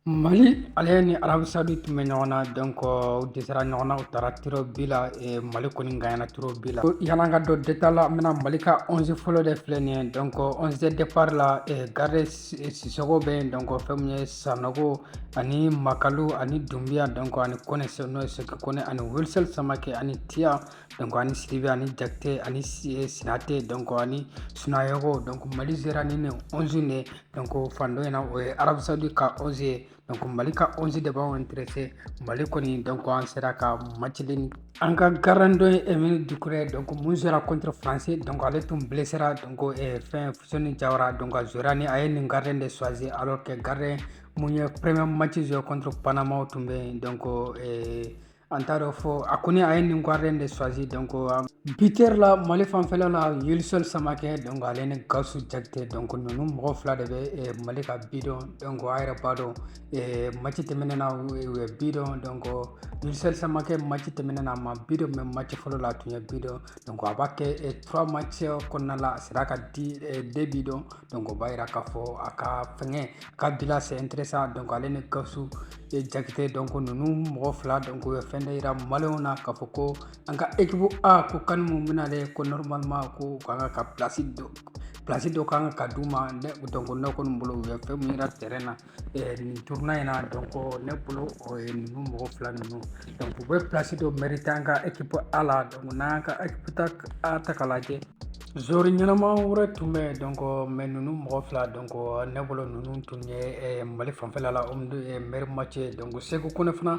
Mali ale ni arabu saudi tun bɛ ɲɔgɔn na donc u dɛsɛra ɲɔgɔn na u taara tir au but la mali kɔni ganyana tir au but la yan'an ka don détail la n bɛna mali ka onze fɔlɔ de filɛ nin ye donc onze de départ la gardien sisɔkɔ bɛ yen donc fɛn min ye sanɔgɔ ani makalu ani dunbiya donc ani kɔnɛ n'o ye segu kɔnɛ ani wilson samakɛ ani tiya donc ani sidibe ani jakite ani eh, sinate donc ani sunayogo donc mali jouera ni nin 11 de donc fan dɔ in na o ye arabu saudi ka 11 ye donc mali ka 11 de b'anw interese mali kɔni donc an sera ka match in an ka gardien dɔ ye emile dukure donc mun jouera contre français donc ale tun blessera donc eh, fɛn fuseni jawara donc a jouera ni a ye nin gardien de choisi alors que gardien mun ye premier match joué contre panama tun bɛ yen donc eh, an t'a dɔn fɔ a kɔni a ye nin gardien de choisi donc buteur la mali fanfɛla la wilson samakɛ donc ale ni gawusu jakite donc nunu mɔgɔ fila de bɛ mali ka bi don donc a yɛrɛ b'a dɔn mati tɛmɛnen na u ye bi don donc wilson samakɛ mati tɛmɛnen na a ma bi don mais mati fɔlɔ la a tun ye bi don donc a b'a kɛ trois match kɔnɔna la a sera ka deux bi don donc o b'a yira k'a fɔ a ka fɛngɛ a ka bilan c'est intéressant donc ale ni Gawusu Jakite donc ninnu mɔgɔ fila donc u ye fɛn dɔ yira maliyɛnw na k'a fɔ ko an ka ekipu A ko kani mun bɛna ale ko normalement ko u kan ka ka pilasi dɔ pilasi dɔ kan ka d'u ma donc ne kɔni bolo u ye fɛn mun yira terrain na nin tournoi in na donc ne bolo o ye ninnu mɔgɔ fila ninnu donc u bɛ plasi dɔ mɛrite an ka ekipu a la donc n'an ka ekipu ta a ta k'a lajɛ joueur ɲɛnama wɛrɛ tun bɛ yen donc mais ninnu mɔgɔ fila donc ne bolo ninnu tun ye mali fanfɛla la meilleur match ye donc segu kɔnɛ fana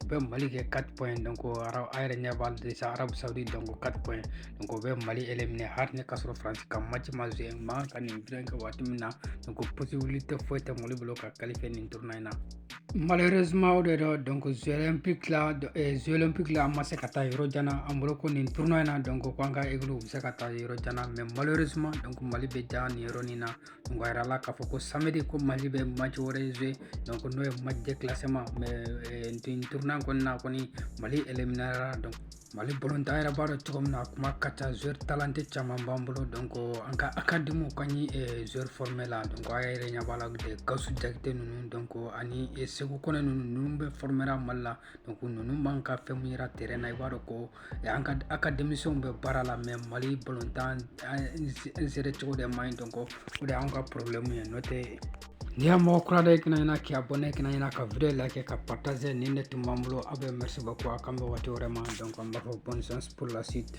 o bɛ mali kɛ quatre points ye donc a yɛrɛ ɲɛ b'a la sisan arabu sawudi donc quatre points ye donc o bɛ mali éliminer hali ne ka sɔrɔ faransi ka mati ma joué man ka nin fɛn kɛ waati min na donc possibilité foyi tɛ mali bolo ka qualifier nin tournoi in na malheureusement o de don donc jeux olympique la eh, jeux olympique la an ma se ka taa yɔrɔ jan na an bolo ko nin tournoi in na donc ko an ka ekipu bɛ se ka taa yɔrɔ jan na mais malheureusement donc mali bɛ ja nin yɔrɔnin na donc a yirala k'a fɔ ko samedi ko mali bɛ mati wɛrɛ joué donc n'o ye match de classement mais tournoi in kɔnɔna kɔni mali éliminera donc mali balontan yɛrɛ b'a dɔn cogo min na a kuma ka ca joueur talenté caman b'an bolo donc an ka académie ka ɲi joueur former la donc a yɛrɛ ɲɛ b'a la gawusu jakite ninnu donc ani segu kɔnɛ ninnu ninnu bɛɛ formera mali la donc ninnu man ka fɛn min yira terrain na i b'a dɔn ko an ka académiciens bɛ baara la mais mali balontan gérer cogo de man ɲi donc o de y'an ka problème ye n'o tɛ n'i y'a mɔgɔ kura dɔ ye kana ɲina k'i abonné kana ɲina ka video like ka partager nin de tun b'an bolo aw bɛɛ merci beaucoup a k'an bɛn waati wɛrɛ ma donc an b'a fɔ bonne chance pour la suite